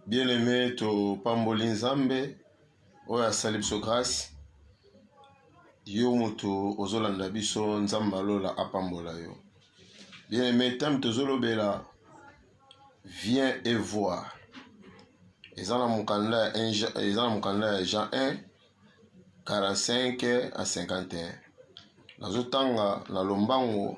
Bien-aime, topamboli Nzambe oyo asali biso grâce. Yo mutu ozolanda biso, Nzambe ya lola apambola yo. Bien-aime, teme tozolobela vient et voir. Eza na mokanda ya eza na mokanda ya Jean 1 45 à 51. Nazotanga na lombango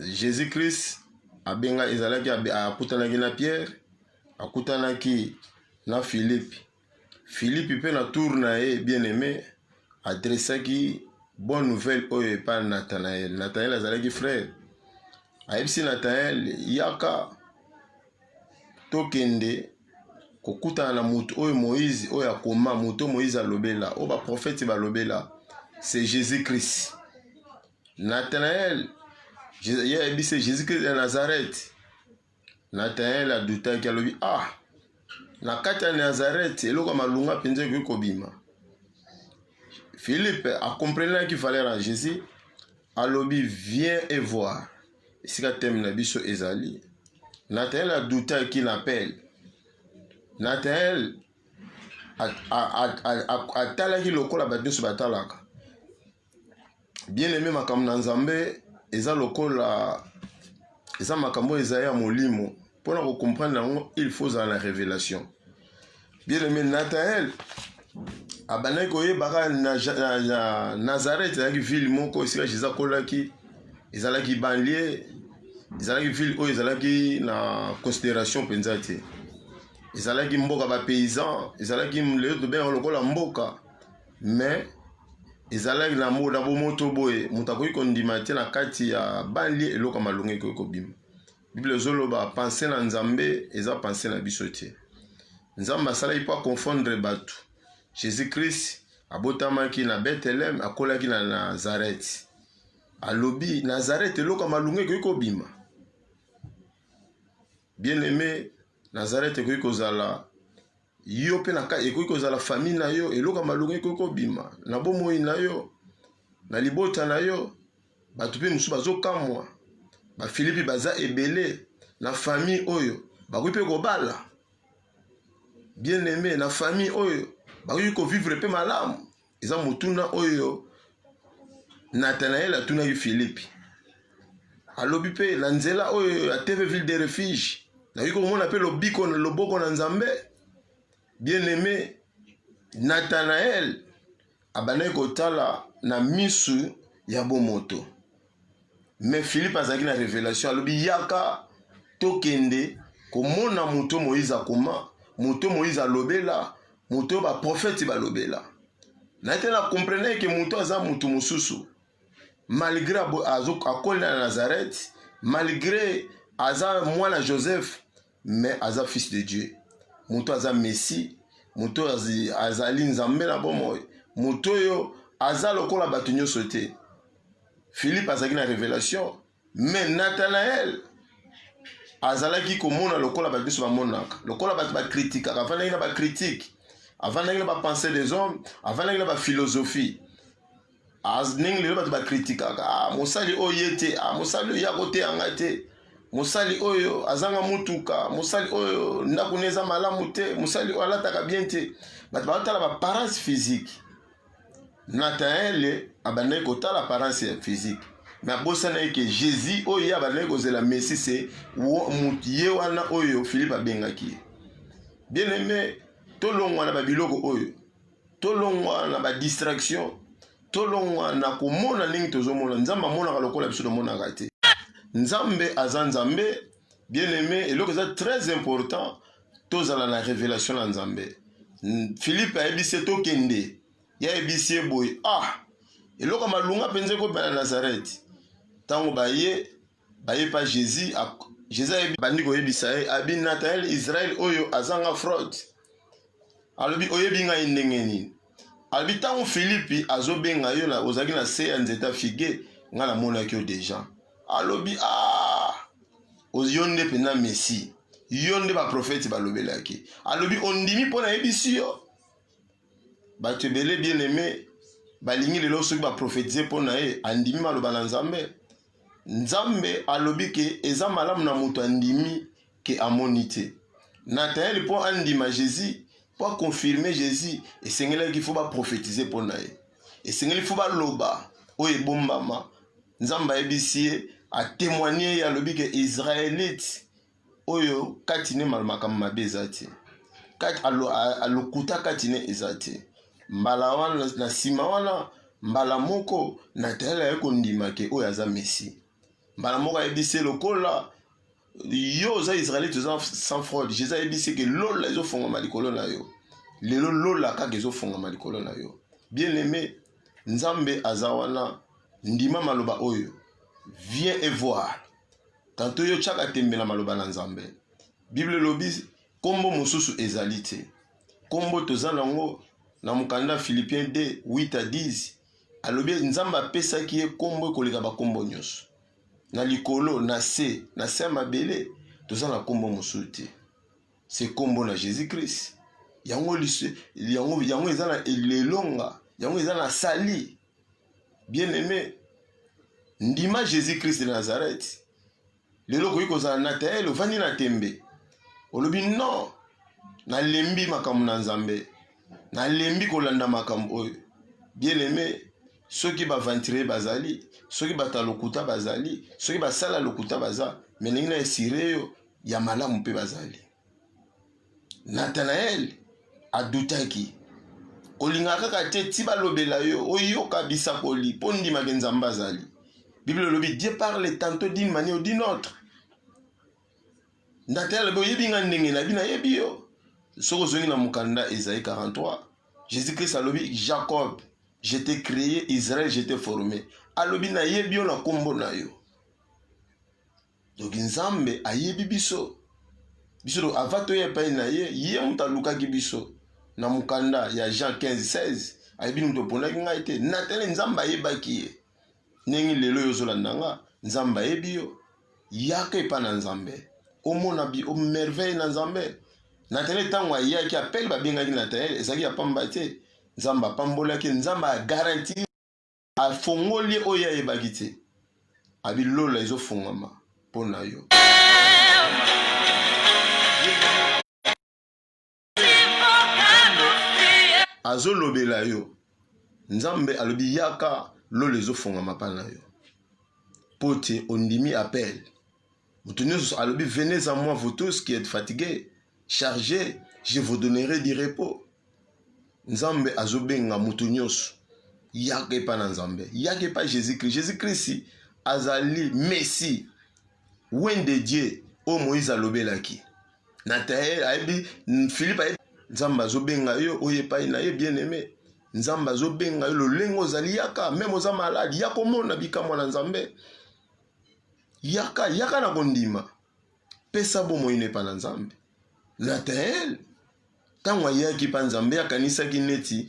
Jesus Christ abenga ezalaki akutanaki na Pierre, akutanaki na Philippe. Philippe mpe na tour na ye bien-aimé adressaki bonne nouvelle oyo epa Nathanaël. Nathanaël azalaki frère. Ayebisi Nathanaël yaka tokende kokutana na moto oyo Moïse oyo akoma, moto Moïse alobela, oyo ba prophète balobela, c'est Jésus-Christ. Nathanael, ye ayebisi ye Jésus Christ ya Nazareth. Nathanael adutaki alobi, ah, na kati ya Nazareth eloko ya malunga mpenza ekoki kobima. Philippe akomprenaki valeur ya Jésus, alobi viens et voir. Esika teme na biso ezali. Nathanael adutaki na appel. Nathanael atalaki lokola bato nyonso batalaka Bien aime makambo na Nzambe eza lokola eza makambo oyo ezali ya molimo mpona kocomprendre yango il faut ozala na révélation bien aime natael abandaki koyebaka na, na, na nazareth ezalaki ville moko esika jésus akolaki ezalaki banlie ezalaki ville oyo ezalaki na considération mpenza te ezalaki mboka bapaysan ezalaki lelo tobengaka lokola mboka mais ezalaki na mbo na bomoto boye moto akoki kondima te na kati ya banlie eloko ya malonga ekoki kobima biblia ezoloba pense na nzambe eza pense na biso te nzambe asalaki mpo aconfondre bato jésus christ abotamaki na bethelem akolaki na nazareth alobi nazareth eloko ya malonga ekoki kobima bien aime nazareth ekoki kozala Yo mpe na kati ekoki kozala famille na yo, eloko ya malonga ekoki kobima na bomoi na yo, na libota na yo. Bato mpe mosusu bazokamwa, bafilipi baza ebele na famille oyo, bakoki mpe kobala bien aime na famille oyo, bakoki kovivre mpe malamu. eza motuna oyo nathanaele atunaki filipe alobi mpe na nzela oyo ya tv ville de refuge nayoki komona mpe lobiko na loboko na nzambe bien aime nathanaele abandaki kotala na misu ya bomoto Mais Philippe azalaki na revelation alobi yaka tokende komona moto Moïse akoma, moto Moïse alobela, moto ba prophète balobela. Na te na comprenais que moto aza moto mosusu. Malgré akoli na Nazareth, malgré aza mwana Joseph, mais aza fils de dieu moto aza messi moto oyo azali nzambe na bomoi moto oyo aza lokola bato nyonso te philippe azalaki na révélation mais nathanael azalaki komona lokola bato nyonso bamonaka lokola bato bakritikaka afandaki na bakritike afandaki na bapense des hommes afandaki na baphilosophie As ndenge lelo bato bakritikaka ah, mosali oyo ye te ah, mosali oyo ye akoteya ngai te mosali oyo azanga motuka mosali oyo ndako ne eza malamu te mosali oyo alataka bien te bato baotala baparence physique nataele abandaki kotala parence ya physique me abosana eke jésus oyo ye abandaki kozela messi se ye wana oyo philipe abengaki ye bien aime tolongwa na babiloko oyo tolongwa na ba distraction tolongwa na komona ndenge tozomona nzambe amonaka lokola biso tomonaka te nzambe aza nzambe bien aimé eloko eza très important tozala na révélation na nzambe philippe ayebisi ye tokende ye ayebisi ye boye ah eloko malunga mpenza ekobela nazareti ntango baye baye pa Jesus Jesus ayebi bandi koyebisa ye abi Nathanael Israel oyo azanga fraud alobi oyebi ngai ndenge nini alobi ntango Filipi azobenga yo na ozalaki na se ya nzeta figue ngai namonaki yo deja alobi a ah, yo nde mpenza messi yo nde baprofeti balobelaki alobi ondimi mpo nayebisi yo bato ebele bien aime balingi lelo soki baprofetize mpo na ye andimi maloba na nzambe nzambe alobi ke eza malamu na moto andimi ke amoni te natanaele mpo andima jesus mpo akonfirme jesus esengelaki fo baprofetize mpo na ye esengeli fo baloba oyo ebombama nzambe ayebisi ye atemoigne ye alobi ke israelite oyo kati ne makambo mabe eza te lokuta kati ne eza te mbala wana na nsima wana mbala moko natayele aye kondima ke oyo aza messi mbala moko ayebisi lokola yo oza israelite oza sans fraude jesus ayebisi ke lola ezofongama likolo na yo lelo lola kaka ezofongama likolo na yo bien aime nzambe aza wana ndima maloba oyo viens et voir Tanto yo tiaka tembe na maloba na Nzambe. Bible elobi kombo mosusu ezali te. Kombo toza nango na mokanda Philippiens 2, 8 à 10. Alobi Nzambe apesaki ye kombo ekoleka ba kombo nyonso. Na likolo, na se, na se ya mabele, toza na kombo mosusu te. Se kombo na Jésus-Christ. Yango, yango, yango eza na elonga, yango eza na sali. bien aime ndima jesus christ de nazareth lelo okoki kozala natael ovandi na tembe olobi non nalembi makambo na nzambe nalembi kolanda makambo oyo bien aime soki baventurier bazali soki bato ya lokuta bazali soki basala lokuta baza melingi na esire yo ya malamu mpe bazali Nathanael adutaki. Kolinga kaka te ti balobela yo oyoka bisakoli mpo ndima ke Nzambe azali. Bible elobi Dieu parle tantôt d'une manière ou d'une autre. Nathanael alobi oyebi nga ndenge nayebi nayebi yo. Soki ozongi na mokanda Esaïe 43, Jésus-Christ alobi Jacob, je t'ai créé, Israël, je t'ai formé. Alobi nayebi yo na kombo na yo. Donc Nzambe ayebi biso biso donc avant toya epai na ye ye moto alukaki biso na mokanda ya Jean 15 16 ayebi moto oponaki ngai te natali Nzambe ayebaki ye ndenge lelo yo ozolanda nga Nzambe ayebi yo yaka epai na Nzambe omona bi omerveille na Nzambe Natanaele ntango ayaki apele babengaki Natanaele ezalaki ya pamba te Nzambe apambolaki Nzambe agaranti Afongoli oyo ayebaki te. Abi lola ezo fongama mpo na yo. azolobela yo nzambe alobi yaka lola ezofongama mpa na yo mpo te ondimi apele moto nyonso alobi venez à moi vous tous qui êtes fatigués chargés je vous donnerai du repos nzambe azobenga moto nyonso yaka epai na nzambe yaka epai jésus christ jésus christ azali messi wen de dieu oyo moïse alobelaki natael ayebi philipe ayebi nzambe azobenga yo oyo epai na ye bien aime nzambe azobenga yo lolenge ozali yaka meme oza maladi ya komona bikamwa na nzambe Yaka, yaka na kondima. Pesa bomoi na epai na Nzambe. Natanaele, ntango ayaki mpa Nzambe, akanisaki neti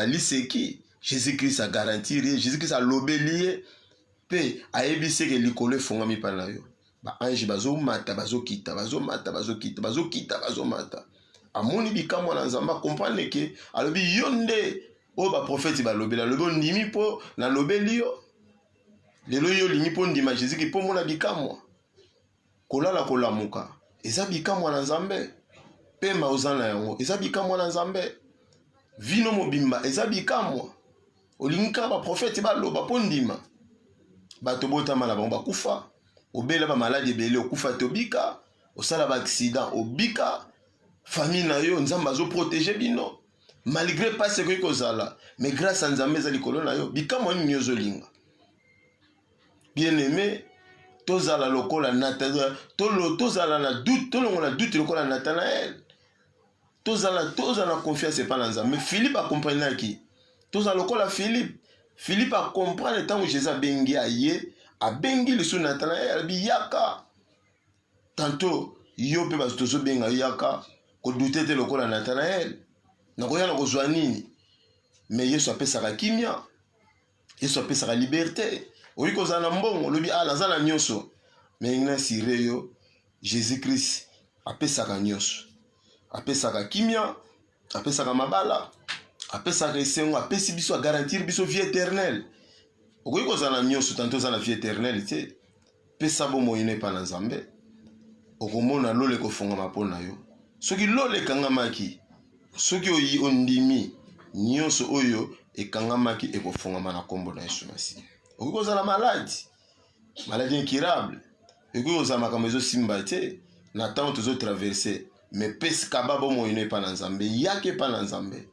liseki. Jésus-Christ a garantir ye, Jésus-Christ alobeli ye, mpe ayebisi eke likolo efongami mpa na yo. Baange bazomata, bazokita, bazomata, bazokita, bazokita, bazomata. Amoni bikamwa na Nzambe, akomprendre ke, alobi yo nde oyo baprofeti balobeli, alobi ondimi mpo nalobeli yo Lelo yo olingi mpo ndima Jésus ki mpo mona bikamwa. Kolala kolamuka eza bikamwa na Nzambe. Pema oza na yango eza bikamwa na Nzambe. Vino mobimba eza bikamwa. Olingi kaka ba prophète baloba mpo ndima. Bato botama na bango bakufa, obela ba maladi ebele okufa te obika, osala ba accident obika, famille na yo Nzambe azo protéger bino. malgré mpasi ekoki kozala mais grâce ya nzambe eza likolo na yo bikamwa nini ozolinga bien aime tozala lokola natana tozala na doute tolongola doute lokola natanael tozala tozala na confiance epai na nzambe philippe akomprenaki tozala lokola philippe philippe akomprendre ntango jésus abengi aye abengi lisusu natanael alobi yaka Tantot yo pe batu tozo benga yo yaka ko doute te lokola Nathanael nakoya na kozwa nini mais Yesu apesaka kimia Yesu apesaka liberte oyi kozala na mbongo olobi ah naza na nyonso mais na sire yo Jesus Christ apesaka nyonso apesaka kimia apesaka mabala apesaka esengo apesi biso agarantir biso vie éternelle okoki kozala na nyonso tanto oza na vie éternelle te pesa bomoi no epai na nzambe okomona lola ekofungama mpo na yo soki lola ekangamaki soki oyi ondimi nyonso oyo ekangamaki ekofungama na nkombo na yesu masiya okoki kozala maladi maladie incurable ekoki kozala makambo ezosimba te na ntango tozotraverse me pesi kaba bomoi no epa na nzambe yaka epa na nzambe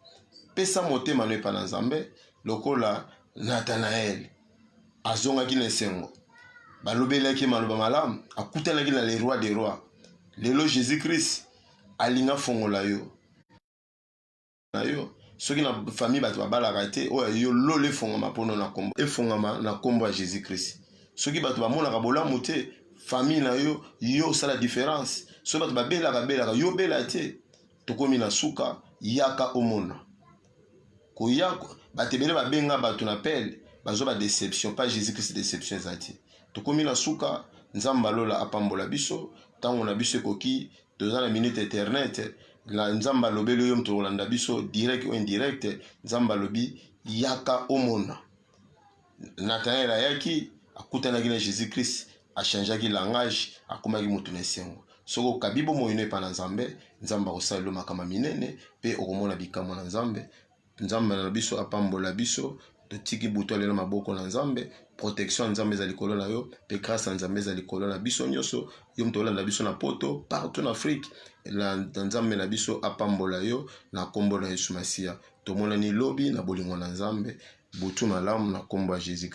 pesa motema no epa na nzambe lokola nathanaele azongaki na esengo balobelaki ye maloba malamu akutanaki na le roi de roi lelo jésus christ alingi afongola yo na yo soki na famille bato babalaka te oyo ya yo lola efongama mpono na kombo efongama na kombo ya jésus christ soki bato bamonaka bolamu te famille na yo yo osala différence soki bato babelaka belaka yo bela te tokomi na suka yaka omona koya bato ebele babenga bato na pele bazo ba déception pas jésus christ déception eza te tokomi na suka nzambe alola apambola biso ntango na biso ekoki toza na minute internet la nzambe alobeli yo moto kolanda biso direct ou indirect nzambe alobi yaka omona nathanael ayaki akutanaki na jésus christ achangeaki langage akomaki moto na esengo soki okabi bomoi no epa na nzambe nzambe akosalelo makama minene mpe okomona bikamwa na nzambe Nzambe na biso apambola biso. Totiki butu alelo maboko na Nzambe. Protection ya Nzambe ezali likolo na yo pe grâce ya Nzambe ezali likolo na biso nyonso. Yo moto olanda biso na poto partout na Afrique. La Nzambe na biso apambola yo na kombo na Yesu Masiya. Tomonani lobi na bolingo na Nzambe. Butu malamu na kombo ya Jésus.